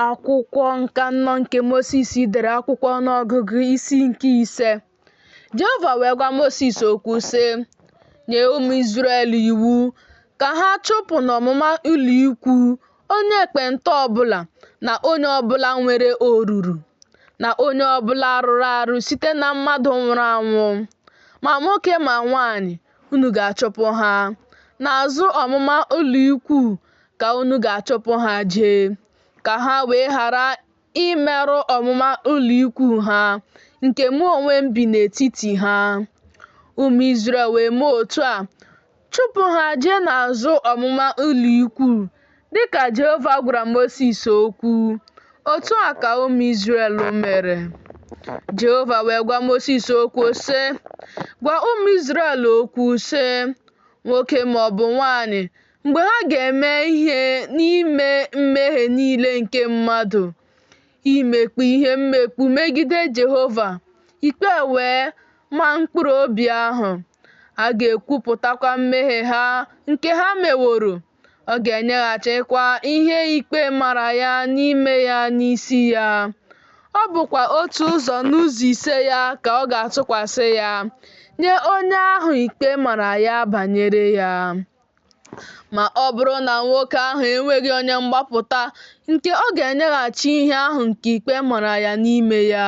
Akwụkwọ nke anọ nke Mosis dere akwụkwọ ọnụọgụgụ isi nke ise. Jehova wee gwa Mosis okwu sị, Nye ụmụ Izrel iwu ka ha chụpụ n'ọmụma ụlọikwu onye ekpenta ọbụla na onye ọbụla nwere oruru na onye ọbụla rụrụ arụ site na mmadụ nwụrụ anwụ, ma nwoke ma nwaanyị, unu ga-achụpụ ha. N'azụ ọmụma ụlọikwu ka unu ga-achụpụ ha jee, ka ha wee ghara imerụ ọmụma ụlọikwu ha, nke mụ onwe m bi n'etiti ha. Ụmụ Izrel wee mee otu a, chụpụ ha jee n'azụ ọmụma ụlọikwu Dị ka Jehova gwara Mosis okwu, otu a ka ụmụ Izrel mere. Jehova wee gwa Mosis okwu, sị, Gwa ụmụ Izrel okwu, sị, Nwoke ma ọ bụ nwaanyị, mgbe ha ga-eme ihe n'ime mmehie niile nke mmadụ, imekpu ihe mmekpu megide Jehova, ikpe wee ma mkpụrụ obi ahụ, ha ga-ekwupụtakwa mmehie ha nke ha meworo. ọ ga-enyeghachikwa ihe ikpe mara ya n'ime ya n'isi ya. Ọ bụkwa otu ụzọ n'ụzọ ise ya ka ọ ga-atụkwasị ya nye onye ahụ ikpe mara ya banyere ya. Ma ọ bụrụ na nwoke ahụ enweghị onye mgbapụta nke ọ ga-enyeghachi ihe ahụ nke ikpe mara ya n'ime ya,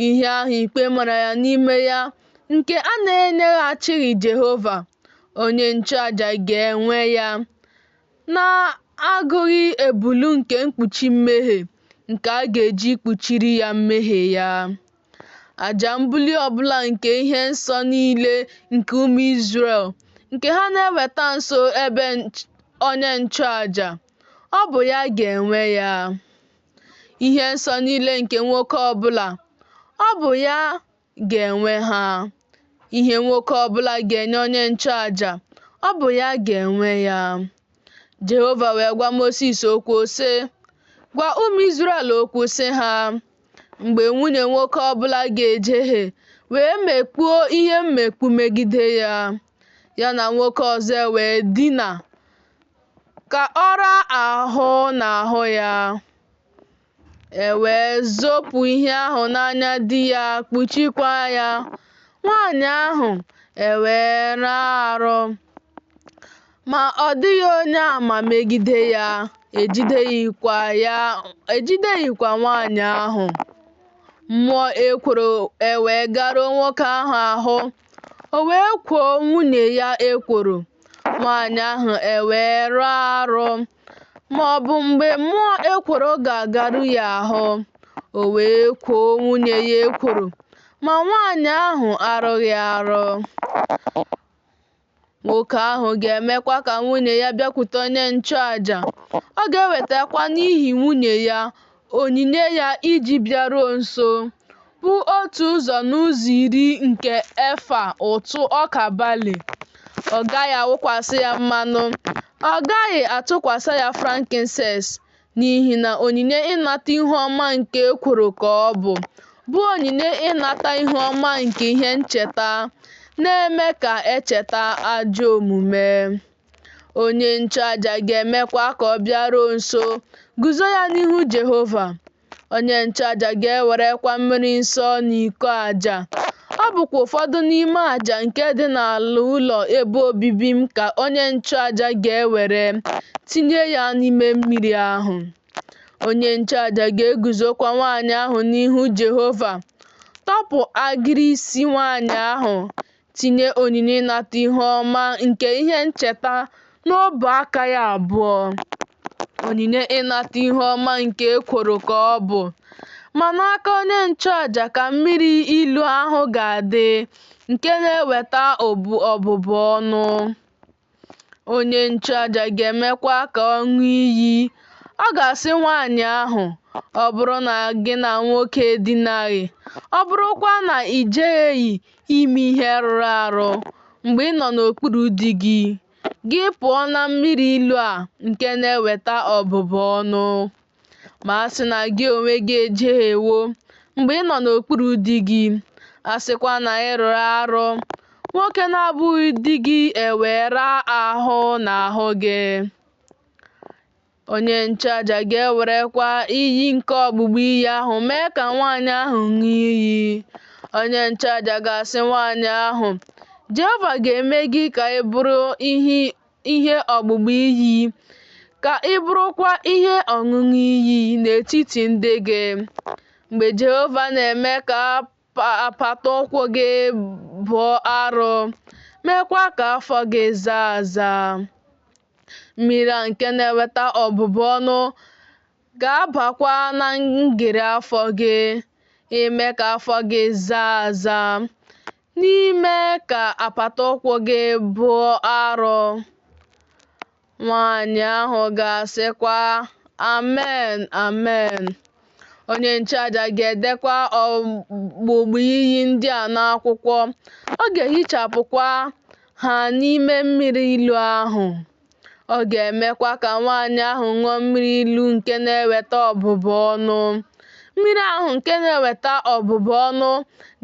Ihe ahụ ikpe mara ya n'ime ya nke a na-enyeghachighị Jehova, onye nchụaja ga-enwe ya, na-agụghị ebulu nke mkpuchi mmehie nke a ga-eji kpuchiri ya mmehie ya. Aja mbuli ọbụla nke ihe nsọ niile nke ụmụ Izrel nke ha na-eweta nso ebe onye nchụaja, ọ bụ ya ga-enwe ya. ihe nsọ niile nke nwoke ọbụla, ọ bụ ya ga-enwe ha. Ihe nwoke ọbụla ga-enye onye nchụaja, ọ bụ ya ga-enwe ya. Jehova wee gwa Mosis okwu sị, Gwa ụmụ Izrel okwu sị ha, Mgbe nwunye nwoke ọbụla ga-ejehie wee mekpuo ihe mmekpu megide ya, ya na nwoke ọzọ e wee dina, ka ọ raa ahụ n'ahụ ya. E wee zopụ ihe ahụ n'anya di ya, kpuchikwa ya. Nwaanyị ahụ e wee rụ arụ. Ma ọ dịghị onye ama megide ya, ejideghịkwa nwaanyị ahụ. Mmụọ ekworo e wee garuo nwoke ahụ ahụ. O wee kwoo nwunye ya ekworo, nwaanyị ahụ ewee rụọ arụ, ma ọ bụ mgbe mmụọ ekworo ga-agaru ya ahụ, o wee kwoo nwunye ya ekworo, ma nwaanyị ahụ arụghị arụ. Nwoke ahụ ga-emekwa ka nwunye ya bịakwute onye nchụaja, ọ ga-ewetakwa n'ihi nwunye ya onyinye ya iji bịaruo nso, bụ otu ụzọ n'ụzọ iri nke efa ụtụ ọka balị. Ọ gaghị awụkwasị ya mmanụ, ọ gaghị atụkwasị ya frankincense. n'ihi na onyinye ịnata ihu ọma nke ekworo ka ọ bụ, bụ onyinye ịnata ihu ọma nke ihe ncheta, na-eme ka echeta ajọ omume. Onye nchụaja ga-emekwa ka ọ bịaruo nso, guzo ya n'ihu Jehova. Onye nchụaja ga-ewerekwa mmiri nsọ n'iko aja Ọ bụkwa ụfọdụ n'ime aja nke dị n'ala ụlọ ebe obibi m ka onye nchụaja ga-ewere tinye ya n'ime mmiri ahụ. Onye nchụaja ga-eguzokwa nwaanyị ahụ n'ihu Jehova, tọpụ agịrị isi nwaanyị ahụ, tinye onyinye ịnata ihu ọma nke ihe ncheta N'ọbụ aka ya abụọ, onyinye ịnata ihu ọma nke ekworo ka ọ bụ, ma n'aka onye nchụaja ka mmiri ilu ahụ ga-adị nke na-eweta ọbụbụ ọnụ. Onye nchụaja ga-emekwa ka ọ ṅụọ iyi. Ọ ga-asị nwaanyị ahụ, Ọ bụrụ na gị na nwoke edinaghị, ọ bụrụkwa na i jehieghị ime ihe rụrụ arụ mgbe ị nọ n'okpuru di gị, gị pụọ na mmiri ilu a nke na-eweta ọbụbụ ọnụ. Ma a sị na gị onwe gị ejehiewo mgbe ị nọ n'okpuru di gị, a sịkwa na ị rụrụ arụ, nwoke na-abụghị di gị ewee raa ahụ n'ahụ gị. Onye nchụaja ga-ewerekwa iyi nke ọgbụgba iyi ahụ mee ka nwaanyị ahụ ṅụọ iyi. Onye nchụaja ga-asị nwaanyị ahụ, Jehova ga-eme gị ka ị bụrụ ihe ọgbụgba iyi, ka ị bụrụkwa ihe ọṅụṅụ iyi n'etiti ndị gị. Mgbe Jehova na-eme ka apata ụkwụ gị bụọ arọ, meekwa ka afọ gị zaa aza. Mmiri a nke na-eweta ọbụbụ ọnụ ga-abakwa na ngịrị afọ gị, ime ka afọ gị zaa aza, na ime ka apata ụkwụ gị bụọ arọ. Nwaanyị ahụ ga-asịkwa, Amen, amen. Onye nchụaja ga-edekwa ọgbụgba iyi ndị a n'akwụkwọ, ọ ga-ehichapụkwa ha n'ime mmiri ilu ahụ. Ọ ga-emekwa ka nwaanyị ahụ ṅụọ mmiri ilu nke na-eweta ọbụbụ ọnụ. Mmiri ahụ nke na-eweta ọbụbụ ọnụ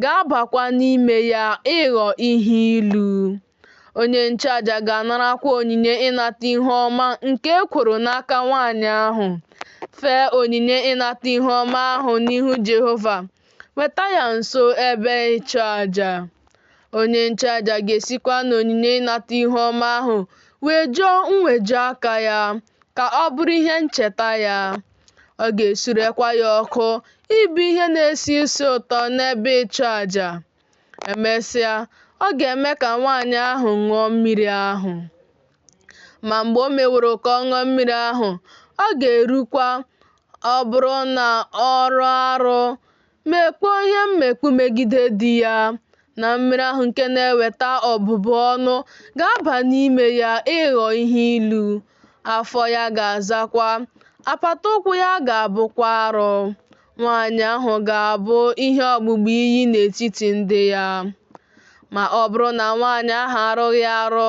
ga-abakwa n'ime ya ịghọ ihe ilu. Onye nchụaja ga-anarakwa onyinye ịnata ihu ọma nke ekworo n'aka nwaanyị ahụ. Fee onyinye ịnata ihu ọma ahụ n'ihu Jehova. Weta ya nso ebe ịchụ aja. Onye nchụaja ga-esikwa n'onyinye ịnata ihu ọma ahụ wejuo mweju aka ya ka ọ bụrụ ihe ncheta ya. Ọ ga-esurekwa ya ọkụ ịbụ ihe na-esi isi ụtọ n'ebe ịchụ aja. Emesịa, ọ ga-eme ka nwaanyị ahụ ṅụọ mmiri ahụ. Ma mgbe o meworo ka ọ ṅụọ mmiri ahụ, ọ ga-erukwa ọ bụrụ na ọ rụọ arụ, mekpuo ihe mmekpu megide di ya, na mmiri ahụ nke na-eweta ọbụbụ ọnụ ga-aba n'ime ya ịghọ ihe ilu, afọ ya ga-azakwa, apata ụkwụ ya ga-abụkwa arụ. Nwaanyị ahụ ga-abụ ihe ọgbụgba iyi n'etiti ndị ya. Ma ọ bụrụ na nwaanyị ahụ arụghị arụ,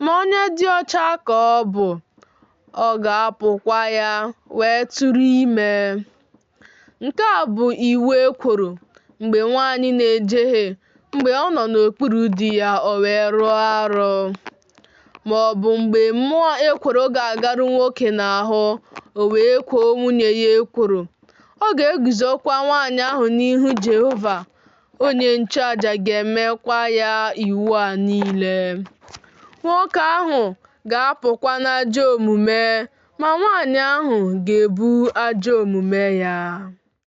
ma onye dị ọcha ka ọ bụ, ọ ga-apụkwa ya wee tụrụ ime. Nke a bụ iwu ekworo mgbe nwaanyị na-ejehie mgbe ọ nọ n'okpuru di ya o wee rụọ arụ. ma ọ bụ mgbe mmụọ ekworo ga-agaru nwoke n'ahụ, o wee kwoo nwunye ya ekworo. Ọ ga-eguzokwa nwaanyị ahụ n'ihu Jehova, onye nchụaja ga-emekwa ya iwu a niile. Nwoke ahụ ga-apụkwa n'ajọ omume, ma nwaanyị ahụ ga-ebu ajọ omume ya.